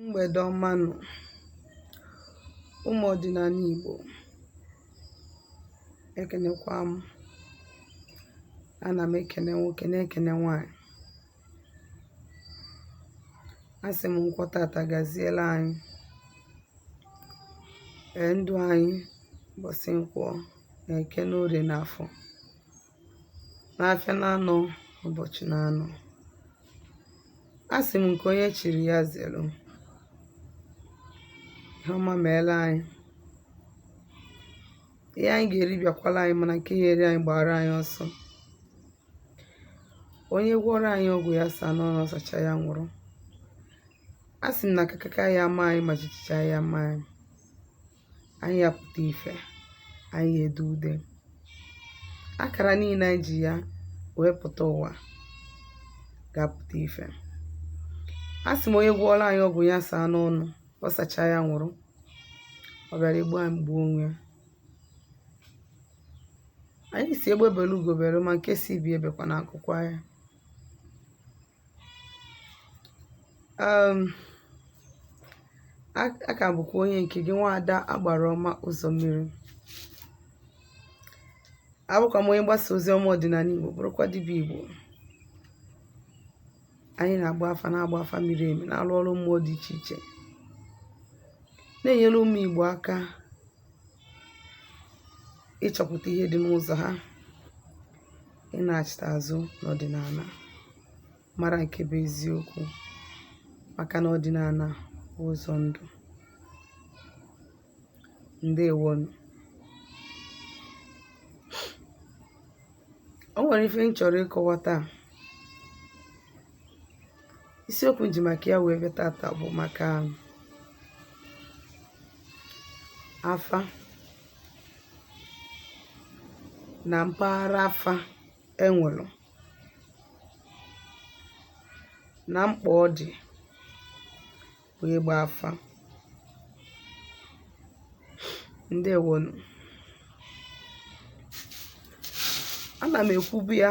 mgbede ọma nụ ụmụ ọdịnala Igbo ekenekwa m ana m ekene nwoke na-ekene nwanyị asị m nkwọ tata gaziela anyị ee ndụ anyị ụbọchị nkwọ na eke na orie na afọ n'afịa n'anọ ụbọchị n'anọ a sị m nke onye chiri ya zere ihe ọma meela anyị ihe anyị ga-eri bịakwala anyị mana nke ya-eri anyị gbara anyị ọsọ onye gwọrọ anyị ọgwụ ya saa n'ọnụ ọ sachaa ya nwụrụ a sị m na kakaka ya-ama anyị ma jijiji aya ama anyị anyị ya-apụta ife anyị ya-ede ude akara niile anyị ji ya wee pụta ụwa ga-apụta ife a sị m onye gwọọla anyị ọgwụ ya saa n'ọnụ ọ sachaa ya nwụrụ ọ bịara igbu anyị gbuo onwe ya anyị sị egbe bere ugo bere ma nke sị ibe ya ebekwana nku kwaa ya um a ka bụkwa onye nke gị nwaada agbara ọma ụzọ mmiri abụkwa m onye mgbasa ozi ọma ọdịnala igbo bụrụkwa dibịa igbo anyị na-agba afa na-agba afa miri emi na-alụ ọrụ mmụọ dị iche iche na-enyere ụmụ igbo aka ịchọpụta ihe dị n'ụzọ ha ịnachịta azụ n'ọdịnala mara nke bụ eziokwu maka na ọdịnala bụ ụzọ ndụ ndewonu o nwere ife m chọrọ ịkọwa taa isiokwu m ji maka ya wee bịa tata bụ maka afa na mpaghara afa e nwere na mkpa ọ dị bụ ịgba afa ndewonu ana m ekwubu ya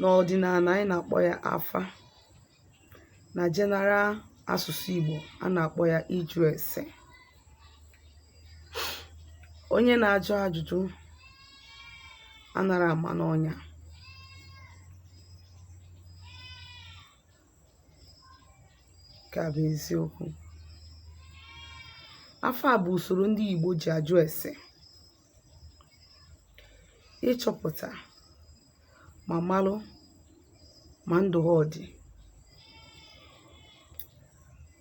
n'ọdịnala anyị na-akpọ ya afa na general asụsụ Igbo a na-akpọ ya ịjụ ese onye na-ajụ ajụjụ anara ama n'ọnya nke a bụ eziokwu afa bụ usoro ndị Igbo ji ajụ ese ịchọpụta ma malụ ma ndụ ha ọ dị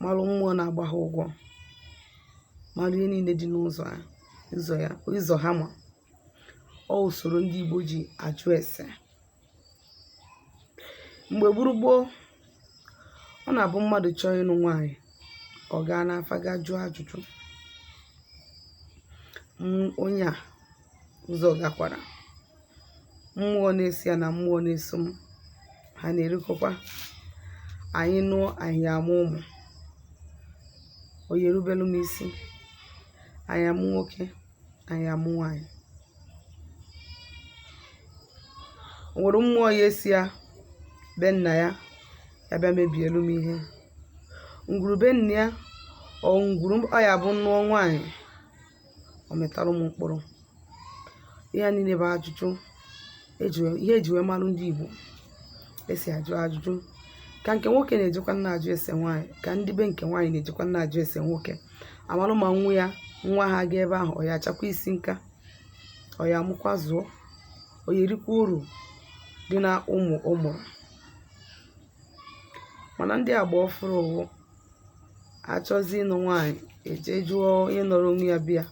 malụ mmụọ na-agba ha ụgwọ malụ ihe niile dị n'ụzọ ya ụzọ ha ma ọ usoro ndị Igbo ji ajụ ese mgbe gburu gboo ọ na-abụ mmadụ chọọ ịnụ nwaanyị ọ gaa n'afa gaa jụọ ajụjụ onye a ụzọ gakwara mmụọ na-eso ya na mmụọ na-eso m ha na-erikọkwa anyị nụọ anyị ya amụ ụmụ ọ ya erubelu m isi anyị ya amụ nwoke anyị ya amụ nwaanyị o nwere mmụọ ya esi ya be nna ya ya bịa mebielu m ihe ngwuru be nna ya ọ ngwuru ọ ya abụ m nụọ nwaanyị ọ mịtalụ m mkpụrụ ihe a niile bụ ajụjụ ihe e ji wee malụ ndị Igbo esi ajụ ajụjụ ka nke nwoke na-ejekwa na-ajụ ese nwaanyị ka ndị be nke nwaanyị na-ejekwa na-ajụ ese nwoke a malụ ma nwa ya nwa ha gaa ebe ahụ ọ ya achakwa isi nka ọ ya amụkwa zụọ ọ ya erikwa uru dị na ụmụ ọ mụrụ mana ndị agba ọfụrụ ụwụ achọzi ịnụ nwaanyị e jee jụọ onye nọrọ onwe ya bịa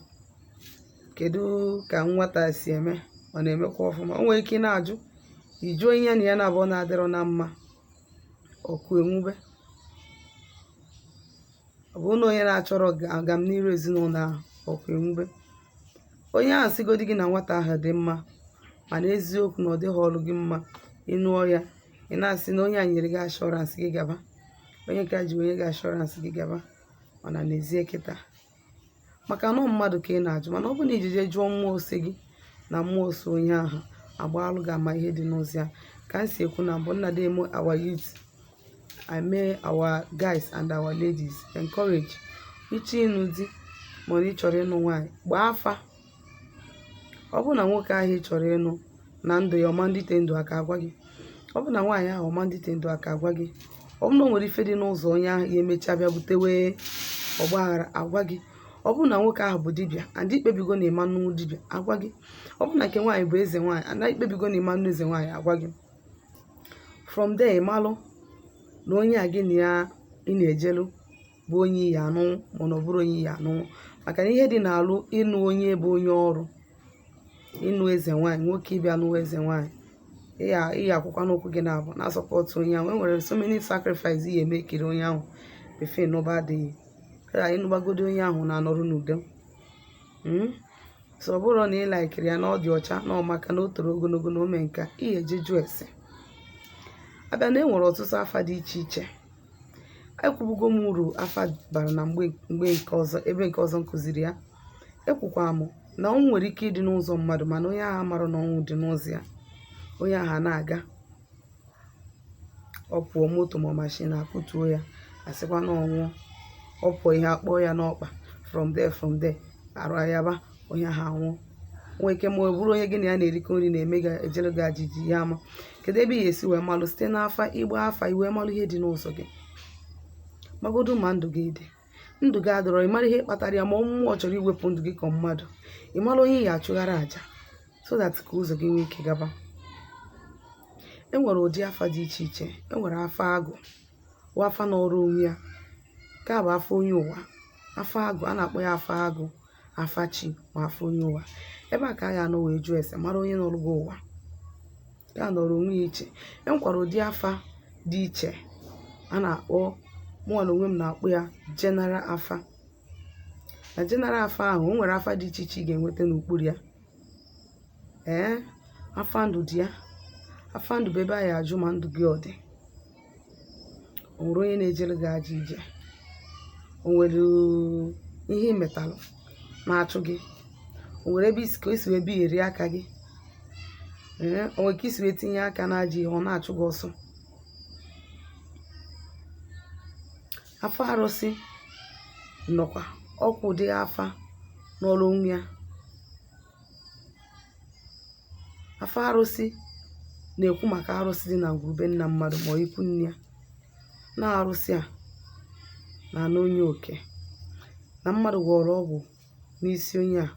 kedu ka nwata si eme ọ na-emekwa ọfụma o nwere ike ị na-ajụ ị jụọ onye na ya na abụọ na-adịrọ na mma ọkụ enwube ọ bụ na onye na-achọrọ agamniru ezinụlọ ahụ ọkụ enwube onye ahụ sịgodi gị na nwata ahụ dị mma mana eziokwu na ọ dịhọlụ gị mma ị nụọ ya ị na-asị na onye a nyere gị assurance gị gaba onye ka ji o nye gị assurance gị gaba mana n'ezie kịta maka na mmadụ ka ị na-ajụ mana ọ bụ na i jee je jụọ mmụọ so gị na mmụọ so onye ahụ agbaalụ gị ama ihe dị n'ụzọ ya ka m si ekwu na mbụ m na-adị eme our youth mee our guys and our ladies encourage ị chọọ ịnụ di mana ị chọrọ ịnụ nwaanyị gbaa afa ọ bụ na nwoke ahụ ị chọrọ ịnụ na ndụ ya ọ ma adịte ndụ aka a gwa gị ọ bụ na nwaanyị ahụ ọ ma adịte ndụ aka a gwa gị ọ bụ na o nwere ife dị n'ụzọ onye ahụ ya emechaa bịa butewe ọgba aghara a gwa gị ọ bụ na nwoke ahụ bụ dibịa and i kpebigo na ị ma anụ dibịa a gwa gị ọ bụ na nke nwaanyị bụ eze nwaanyị and i kpebigo na ị ma anụ eze nwaanyị a gwa gị from there ị malụ na onye a gị na ya ị na-ejelu bụ onye ị ya-anụ mana ọ bụrọ onye ị ya-anụ maka na ihe dị n'alụ ịnụ onye bụ onye ọrụ ịnụ eze nwaanyị nwoke ị bịa nụwa eze nwaanyị ị ya ị ya-akwụkwa n'ụkwụ gị naabọ na-asọpọtụ onye ahụ enwere so many sacrifice ị ya-eme ekiri onye ahụ before n'ụba adịghị kara ịnụgbagodi onye ahụ na-anọrọ n'udo Mm? so ọ bụrụ na ị laikiri ya na ọ dị ọcha na ọ maka na o toro ogologo na ome nka ị ya-eje jụọ ese abịa na enwere ọtụtụ afa dị iche iche ekwubugo m uru afa bara na mgbe mgbe nke ọzọ ebe nke ọzọ m kụziri ya ekwukwara m na ọnwụ nwere ike ịdị n'ụzọ mmadụ mana onye ahụ amarọ na ọnwụ dị n'ụzọ ya onye ahụ na-aga ọ pụọ moto ma mashin akụtuo ya a sịkwa na ọ nwụọ ọ pụọ ihe akpọọ ya n'ọkpa from there from there arụ ayaba onye ahụ anwụọ nwee ike ma ọ bụrụ onye gị na ya na-erikọ nri na-eme gị ejere gị ajọ ije ị ya-ama kedu ebe ị ga-esi wee malụ site n'afa ịgba afa i wee malụ ihe dị n'ụzọ gị magodo ma ndụ gị dị ndụ gị adịrọ ị mara ihe kpatara ya ma ọ mmụọ chọrọ iwepụ ndụ gị ka mmadụ ị mara onye ị ga-achụgharị aja so that ka ụzọ gị nwee ike gaba e nwere ụdị afa dị iche iche e nwere afa agụ bụ afa nọrọ onwe ya nke a bụ afa onye ụwa afa agụ a na-akpọ ya afa agụ afa chi ma afa onye ụwa ebe a ka a ga-anọ wee jụọ ese mara onye nọrọ gị ụwa ya nọrọ onwe ya iche e nwekwara ụdị afa dị iche a na-akpọ mụnwa na onwe m na-akpọ ya general afa na general afa ahụ o nwere afa dị iche iche ị ga-enweta n'okpuru ya ee afa ndụ dị ya afa ndụ bụ ebe a ya-ajụ ma ndụ gị ọ dị o nwere onye na-ejere gị ajọ ije o nwere ihe ị metalụ na-achụ gị o nwere ebe i si ka i si wee bieri aka gị ee o nwere ka i si wee tinye aka n'ajọ ihe ọ na-achụ gị ọsọ Afa arụsị nọkwa ọkwa ụdị afa nọrọ onwe ya. Afa arụsị na-ekwu maka arụsị dị na ngwuru be nna mmadụ ma ọ ikwu nne ya. Na arụsị a na-ana onye oke. Na mmadụ gwọrọ ọgwụ n'isi onye a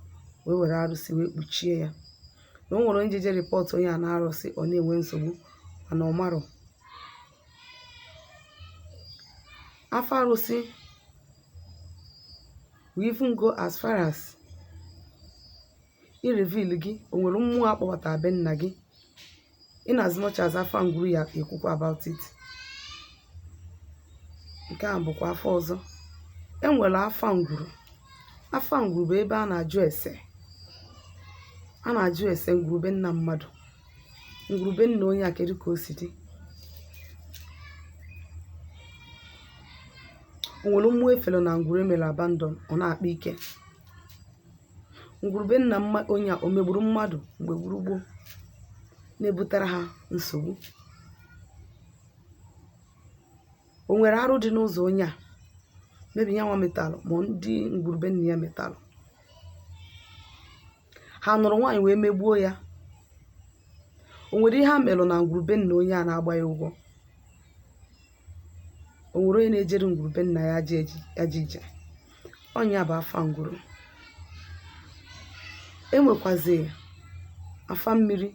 wee were arụsị wee kpuchie ya. Na o nwere onye jeje rịpọtụ onye a na arụsị ọ na-enwe nsogbu mana ọ marọ. Afa arụsị will even go as far as i reveal gị o nwere mmụọ a kpọbata be nna gị in as much as afa ngwuru ya-ekwukwa about it nke a bụkwa afa ọzọ e nwere afa ngwuru afa ngwuru bụ ebe a na-ajụ ese a na-ajụ ese ngwuru be nna mmadụ ngwuru be nna onye a kedu ka o si dị o nwere mmụọ e fere na ngwuru e mere abandon ọ na-akpa ike ngwuru be nna mma onye a o megburu mmadụ mgbe gburu gboo na-ebutara ha nsogbu o nwere arụ dị n'ụzọ onye a ma ọ bụ ya nwa metalụ ma ndị ngwuru be nna ya metalụ ha nụrụ nwaanyị wee megbuo ya o nwere ihe ha melụ na ngwuru be nna onye a na-agba ya ụgwọ o nwere onye na-ejere ngwuru be nna ya ajọ ije ọ nya bụ afa ngwuru e nwekwazi afa mmiri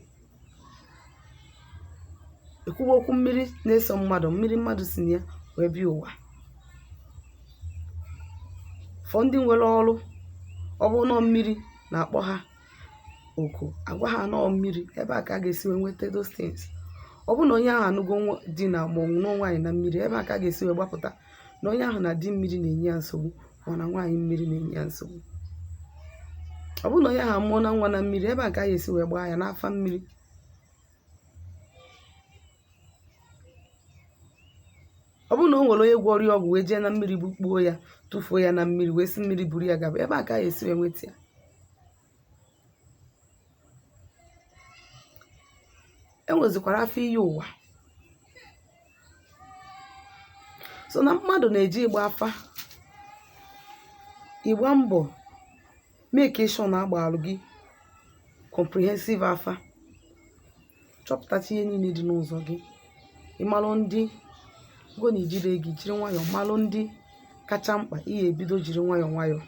e kwuwa okwu mmiri na-eso mmadụ mmiri mmadụ si na ya wee bịa ụwa for ndị nwere ọrụ ọ bụrụ na mmiri na-akpọ ha oku agwa ha na ọ mmiri ebe a ka a ga-esi wee nweta those things ọ bụrụ na onye ahụ anụgo nwa- di na ma ọ nụọ nwaanyị na mmiri ebe a ka a ga-esi wee gbapụta na onye ahụ na di mmiri na-enye ya nsogbu ma na nwaanyị mmiri na-enye ya nsogbu ọ bụrụ na onye ahụ amụọna nwa na mmiri ebe a ka a ga-esi wee gbaa ya n'afa mmiri ọ bụrụ na o nwere onye gwọrọ ya ọgwụ wee jee na mmiri bukpuo ya tụfuo ya na mmiri wee si mmiri buru ya gaba ebe a ka a ga-esi wee nweta ya e nwezikwara afa iyi ụwa so na mmadụ na-eje ịgba afa ị gba mbọ make sure na a gbaalụ gị comprehensive afa chọpụtacha ihe niile dị n'ụzọ gị ị malụ ndị go na ijide gị jiri nwayọọ malụ ndị kacha mkpa ị ga-ebido jiri nwayọọ nwayọọ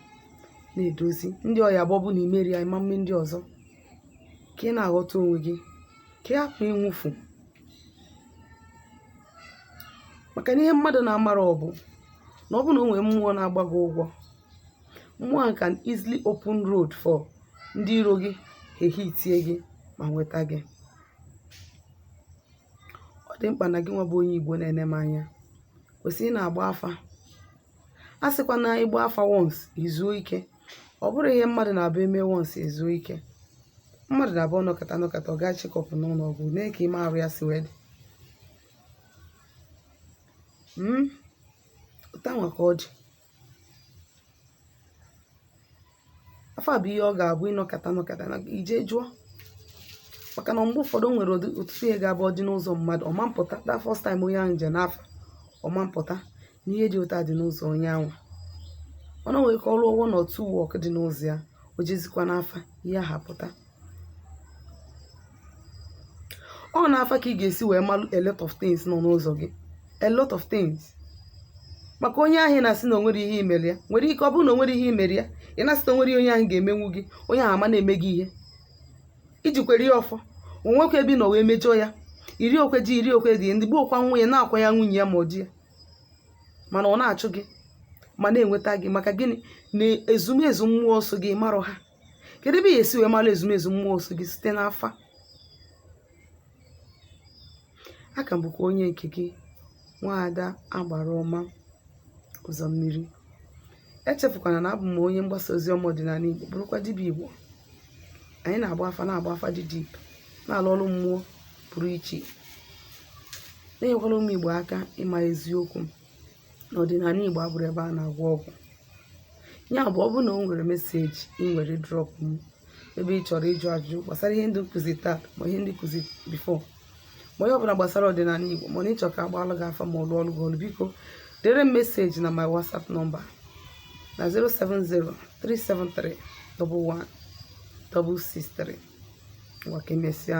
na-edozi ndị ọ ya-abụ ọ bụ na i mere ya ị ma mme ndị ọzọ ka ị na-aghọta onwe gị ka ị hapụ ịnwụfu maka na ihe mmadụ na-amarọ bụ na ọ bụ na o nwere mmụọ na-agba gị ụgwọ mmụọ ahụ can easily open road for ndị iro gị ehitie gị ma nweta gị ọ dị mkpa na gị nwa bụ onye igbo na-ene m anya kwesịrị ịna-agba afa asịkwana ị gba afa once i zuo ike ọ bụrọ ihe mmadụ na-abụ e me once e zuo ike mmadụ na-abụ ọ nọkata nọkata ọ gaa check up n'ụlọ ọgwụ nee ka ime arụ ya si wee dị Mm? otu a nwa ka ọ dị afa bụ ihe ọ ga-abụ ị nọkata nọkata i je jụọ maka na mgbe ụfọdụ o nwere ọtụtụ ihe ga-abụ ọ dị n'ụzọ mmadụ ọ ma mpụta that first time onye ahụ je n'afa ọ ma mpụta na ihe dị otu a dị n'ụzọ onye ahụ ọ na nwere ka ọ rụ one or two work dị n'ụzọ ya o jezikwa n'afa ihe ahụ apụta ọ n'afa ka ị ga-esi wee malụ a lot of things nọ n'ụzọ gị a lot of things maka onye ahụ ị na-asị na o nwerọ ihe i mere ya nwere ike ọ bụrụ na o nwere ihe i mere ya ị na-asị na o nwerọ ihe onye ahụ ga-emenwu gị onye ahụ ama na-eme gị ihe ijikwere ya ọfọ o nwekwa ebe ị nọ wee mejọọ ya iri okwe ji iri okwe dị ndị gbuokwa nwunye na-akwa ya nwunye ya ma ọ di ya mana ọ na-achụ gị ma na-enweta gị maka gịnị na ezumezu mmụọ so gị ị marọ ha kedu ebe ị ga-esi wee mara ezumezu mmụọ so gị site n'afa aka m bụkwa onye nke gị nwaada agbara ọma ụzọ mmiri echefukwana na abụ m onye mgbasa ozi ọma ọdịnala igbo bụrụkwa dibịa igbo anyị na-agba afa na-agba afa dị deep na-alụ ọrụ mmụọ pụrụ iche na-enyekwara ụmụ igbo aka ịma eziokwu na ọdịnala Igbo abụrọ ebe a na-agwọ ọgwụ ya bụ ọ bụrụ na o nwere meseji ị nwere drọp m ebe ị chọrọ ịjụ ajụjụ gbasara ihe ndị m kụzi taa ma ihe ndị m kụzi before ma ihe ọbụla gbasara ọdịnala Igbo ma na ị chọ ka a gbalụ gị afa ma ọ lụọlụ gị ọlụ biko dere m meseji na my WhatsApp nọmba na 07037311163 ngwa ka emesịa